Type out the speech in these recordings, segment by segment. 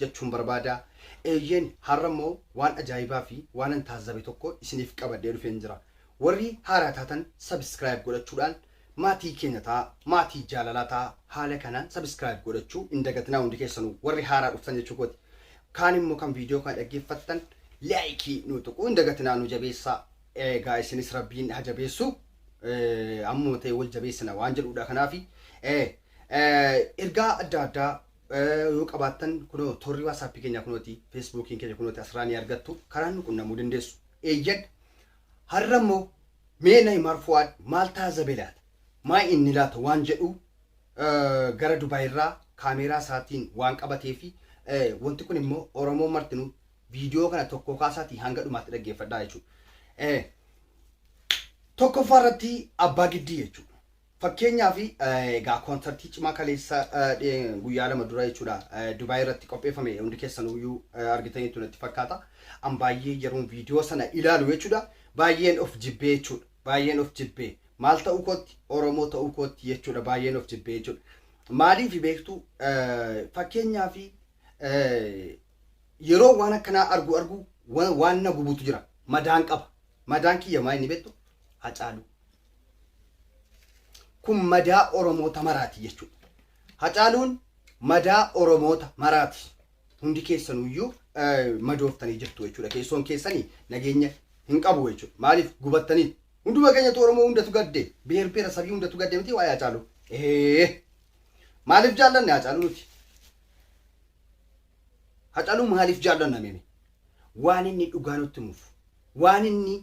jechuun barbaada. Eeyyeen, har'a immoo waan ajaa'ibaa fi waanan taazzabe tokko isiniif qabadhee dhufeen jira. Warri haaraa taatan subscribe godhachuudhaan maatii keenya ta'a, maatii jaalalaa ta'a. Haala kanaan subscribe godhachuu hin dagatinaa hundi keessanuu warri haaraa dhuftan jechuu kooti. Kaan immoo kan viidiyoo kana dhaggeeffattan like nu tuquu hin dagatinaa nu jabeessaa. Egaa isinis Rabbiin ha jabeessu. Eh, ammuma ta'e wal jabeessina waan jedhuudha kanaafi. Eh, eh, ergaa adda addaa yoo qabaattan kunoo torri waasaappi keenya kunooti feesbuukiin keenya kunooti asirraa ni argattu karaan nu qunnamuu dandeessu eeyyan har'a immoo mee na himaar fu'aad maal taazabee laata maa inni laata waan jedhu gara dubaayirraa kaameeraa isaatiin waan qabatee fi wanti kun immoo oromoo martinuu viidiyoo kana tokkoo kaasaatii hanga dhumaatti dhaggeeffadhaa jechuudha tokkoffaa irratti abbaa giddii jechuudha Fakkeenyaaf egaa koonsartii cimaa kaleessa guyyaa lama dura jechuudha Dubaay irratti qopheeffame hundi keessanuyyuu argitaniitu natti fakkaata. An baay'ee yeroon viidiyoo sana ilaalu jechuudha baay'een of jibbee jechuudha baay'een of jibbee maal ta'uu kootti Oromoo ta'uu kootti jechuudha baay'een of jibbee jechuudha. Maaliif beektu fakkeenyaaf yeroo waan akkanaa argu argu waan na gubutu jira madaan qaba madaan kiyya maa inni beektu hacaaluu. Kun madaa Oromoota maraati jechuudha. Hacaaluun madaa Oromoota maraati. Hundi keessanuyyuu madooftanii jirtu jechuudha. Keessoon keessanii nageenya hin qabu jechuudha. Maaliif gubattanii? Hunduma keenyatu Oromoo hundatu gadde. Biheer biheera sabii hundatu gadde miti waa'ee Hacaaluu. Ee maaliif jaallanne Hacaaluu nuti? Hacaluu maaliif jaallanna mee waan inni dhugaa nutti himuuf waan inni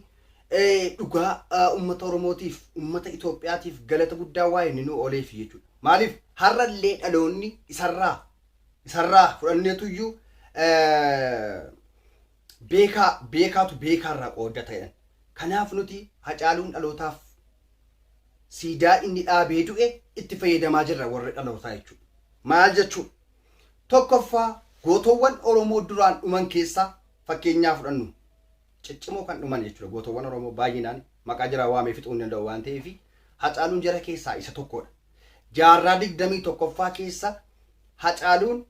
dhugaa ummata Oromootiif ummata Itoophiyaatiif galata guddaa waa inni nu ooleef jechuudha. Maaliif har'allee dhaloonni isarraa isarraa fudhanneetuyyuu beekaa beekaatu beekaarraa qoodda ta'edhan. Kanaaf nuti hacaaluun dhalootaaf siidaa inni dhaabee du'e itti fayyadamaa jirra warri dhalootaa jechuudha. Maal jechuudha? 1ffaa Gootoowwan Oromoo duraan dhuman keessaa fakkeenyaa fudhannu ciccimoo kan dhuman jechuudha. Gootoowwan Oromoo baay'inaan maqaa jiraa waamee fixuu hin danda'u waan ta'eef Hacaaluun jara keessaa isa tokkodha. Jaarraa 21ffaa keessa Hacaaluun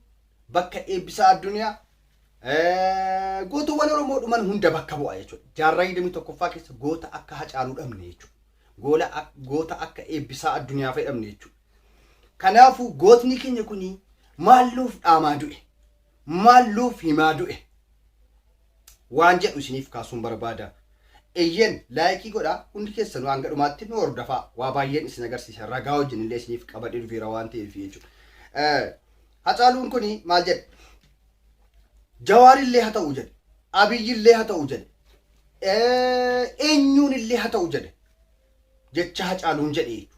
bakka Eebbisaa Addunyaa gootoowwan Oromoo dhuman hunda bakka bu'a jechuudha. Jaarraa 21ffaa keessa goota akka Hacaaluu dhabne jechuudha. Goota akka Eebbisaa Addunyaa fayyadamne jechuudha. Kanaafuu gootni keenya kun maal nuuf dhaamaa du'e? Maal nuuf himaa du'e? Waan jedhu isiniif kaasuun barbaada. Eyyeen laayikii godhaa hundi keessanuu hanga dhumaatti nu hordofaa waa baay'een isin agarsiisa ragaa wajjin illee isiniif qabadhee dhufeera waan ta'eef jechuudha. Hacaaluun kun maal jedhe? Jawaar illee haa ta'u jedhe. Abiyyi illee haa ta'u jedhe. Eenyuun illee haa ta'u jedhe. jecha hacaaluun jedhe jechuudha.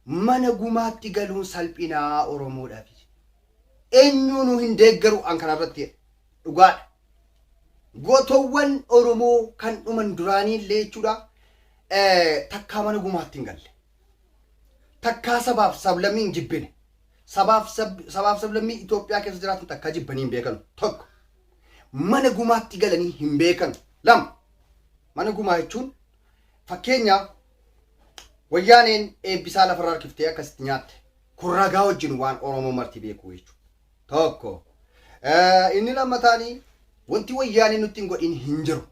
Mana gumaatti galuun salphinaa Oromoodhaaf. Eenyuunuu hin deeggaru an kanarratti jedhe. Dhugaadha. Gootowwan Oromoo kan dhuman duraanii illee jechuudha takkaa mana gumaatti hin galle. Takkaa sabaaf sablammii hin jibbine. Sabaaf sablammii Itoophiyaa keessa jiraatan takkaa jibbanii hin beekanu. Tokko. mana gumaatti galanii hin beekanu. Lama, mana gumaa jechuun fakkeenyaaf wayyaaneen eebbisaa lafarra harkiftee akkasitti nyaatte kun ragaa wajjin waan Oromoo marti beekuu jechuudha. Tokko. Eh, Inni lammataanii wanti wayyaaneen nutti hin godhin hin jiru.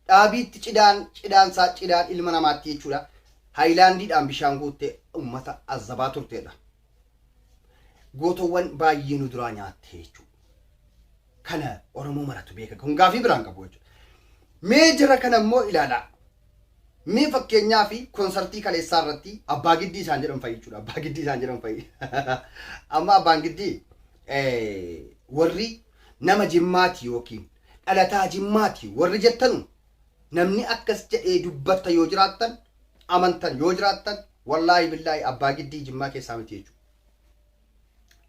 Dhaabiitti cidaan cidaan isaa cidaan ilma namaatti jechuudha. Haayilaandiidhaan bishaan guuttee uummata azabaa turteedha. gootowwan baay'ee nu duraa nyaatte jechuudha. Kana Oromoo maratu beeka. Kun gaafii biraan qabu jechuudha. Mee jara kana immoo ilaalaa. Mee fakkeenyaa fi konsartii kaleessaa irratti abbaa giddii isaan jedhan fa'i jechuudha. Abbaa giddii isaan jedhan fa'i. Amma abbaan giddii warri nama jimmaati yookiin dhalataa jimmaati warri jettanu namni akkas jedhee dubbatta yoo jiraattan amantan yoo jiraattan Wallaahi billaahi abbaa giddii jimmaa keessaa miti jechuudha.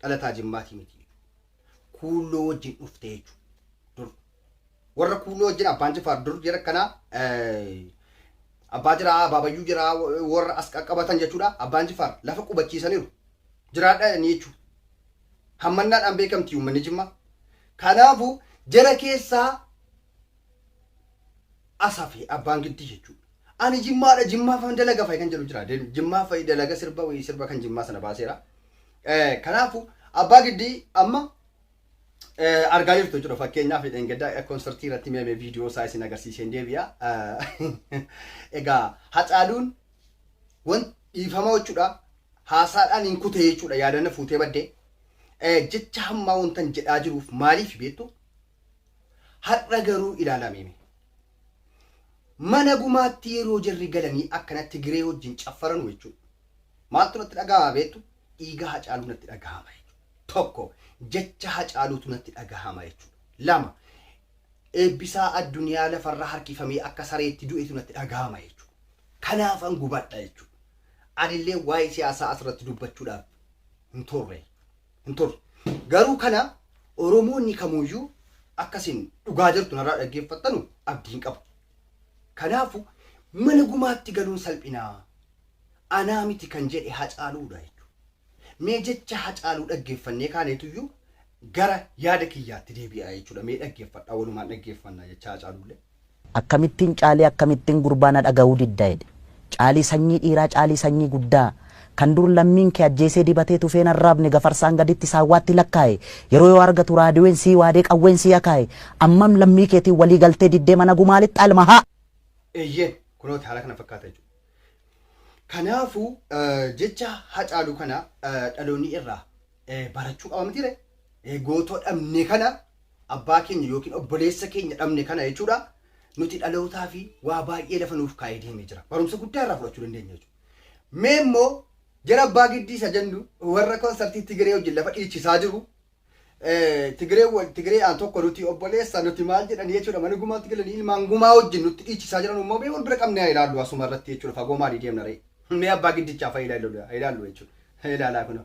Dhalataa jimmaatii miti jechuudha. Kuulloo wajjin dhufte jechuudha. Dur. Warra kuulloo wajjin abbaan jifaar dur jira kanaa abbaa jiraa abbaa bayyuu jiraa warra as qaqqabatan jechuudha. Abbaan jifaar lafa qubachiisaniiru. Jiraadha ni jechuudha. Hammannaadhaan beekamti uummanni jimmaa. Kanaafuu jara keessaa asafe abbaan giddii jechuudha. Ani jimmaadha jimmaafan dalaga fa'i kan jedhu jira jimmaa fa'i dalaga sirba wayii sirba kan jimmaa sana baaseera kanaafu abbaa giddii amma argaa jirtu jechuudha fakkeenyaaf hidheen gaddaa konsertii irratti meemee viidiyoo isaa isin agarsiiseen deebi'a egaa hacaaluun wan dhiifama jechuudha haasaadhaan hin kutee jechuudha yaadanna fuutee baddee jecha hammaa wantan jedhaa jiruuf maaliif beektu har'a garuu ilaalaa meemee Mana gumaatti yeroo jarri galanii akkana Tigiree wajjin caffaranu jechuudha. Maaltu natti dhagahama beektu? Dhiiga Hacaaluu natti dhagahama jechuudha. Tokko jecha Hacaaluutu natti dhagahama jechuudha. Lama Eebbisaa Addunyaa lafarra harkifamee akka sareetti du'etu natti dhagahama jechuudha. Kanaafan gubadha jechuudha. Anillee waa'ee siyaasaa asirratti dubbachuudhaaf hin turre. hin turre. Garuu kana Oromoonni kamuyyuu akka isin dhugaa jirtu narraa dhaggeeffattanu abdiin qaba. Kanaafu mana gumaatti galuun salphinaa anaa miti kan jedhe Hacaaluudha jechuudha. Mee jecha Hacaaluu dhaggeeffannee kaaneetuyyuu gara yaada kiyyaatti deebi'aa jechuudha. Mee dhaggeeffadhaa walumaan dhaggeeffannaa jecha Hacaaluullee. Akkamittin caalii akkamittin gurbaa na dhagahuu didda jedhe. Caalii sanyii dhiiraa caalii sanyii guddaa Kan dur lammiin kee ajjeesee dibatee tufeen arraabne gafarsaan gaditti saawwaatti lakkaaye yeroo yoo argatu raadiween sii waadee qawween sii akaaye ammam lammii keetiin walii galtee diddee mana gumaa lixxa ilma haa Eeyyeen kunooti haala kana fakkaata jechuudha. Kanaafuu jecha Hacaaluu kana dhaloonni irraa. barachuu qaba miti ree? Eh, Gootoo dhabne kana abbaa keenya yookiin obboleessa keenya dhabne kana jechuudha. Nuti dhalootaa fi waa baay'ee lafa nuuf kaa'ee deemee jira. Barumsa guddaa irraa fudhachuu dandeenya jechuudha. Mee immoo jara abbaa giddii isa jennu warra konsartii Tigiree wajjin lafa dhiichisaa jiru. Eh, Tigiree wal- Tigiree aan tokko nuti obboleessa nuti maal jedhan jechuudha. Mana gumaatti galanii ilmaan gumaa wajjin nutti dhiichisaa jiran immoo mee wal bira qabnee haa ilaallu asuma irratti jechuudha. Fagoo maalii deemna ree? Mee abbaa giddichaaf haa ilaallu haa ilaallu jechuudha. Haa ilaalaa kunoo.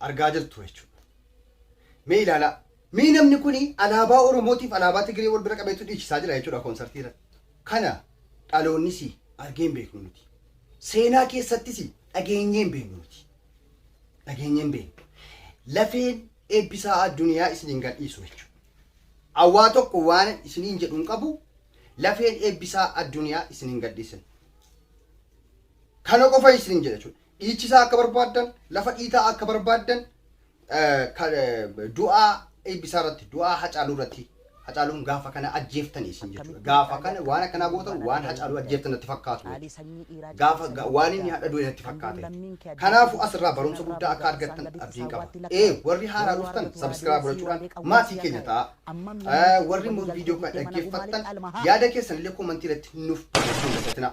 argaa jirtu jechuudha. Mee ilaalaa. Mee namni kun alaabaa Oromootiif alaabaa Tigiree wal bira qabeetu dhiichisaa jira jechuudha koonsartii irratti. Kana dhaloonnis argee hin beeknu nuti. Seenaa keessattis dhageenyee hin beeknu nuti. Dhageenyee hin beeknu. Lafeen eebbisaa addunyaa isiniin gadhiisu jechuudha. Awwaa tokko waan isiniin jedhu hin qabu lafeen eebbisaa addunyaa isiniin gadhiisin. Kana qofa isiniin jedha jechuudha. Dhiichisaa akka barbaaddan, lafa dhiitaa akka barbaaddan du'aa eebbisaa irratti, du'aa hacaaluu irratti hacaaluun gaafa kana ajjeeftani isin jechuudha. Gaafa kana waan akkanaa gootan waan hacaaluu ajjeeftan natti fakkaatu jechuudha. Gaafa waan inni hadha du'e natti fakkaata jechuudha. Kanaafuu asirraa barumsa guddaa akka argattan abdiin qaba. Ee warri haaraa dhuftan sabiskiraayib godhachuudhaan maatii keenya ta'a. Warri immoo viidiyoo kana dhaggeeffattan yaada keessan illee koomantii irratti nuuf barreessuu hin dagatinaa.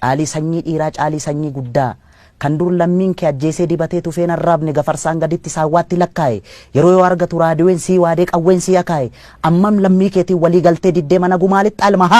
Caalii sanyii dhiiraa caalii sanyii guddaa Kan dur lammiin kee ajjeesee dibatee tufeen arraabne gafarsaan gaditti saawwaatti lakkaa'e Yeroo yoo argatu raadiween sii waadee qawween sii akaa'e Ammam lammii keetiin walii galtee diddee mana gumaa lixxa Almaha!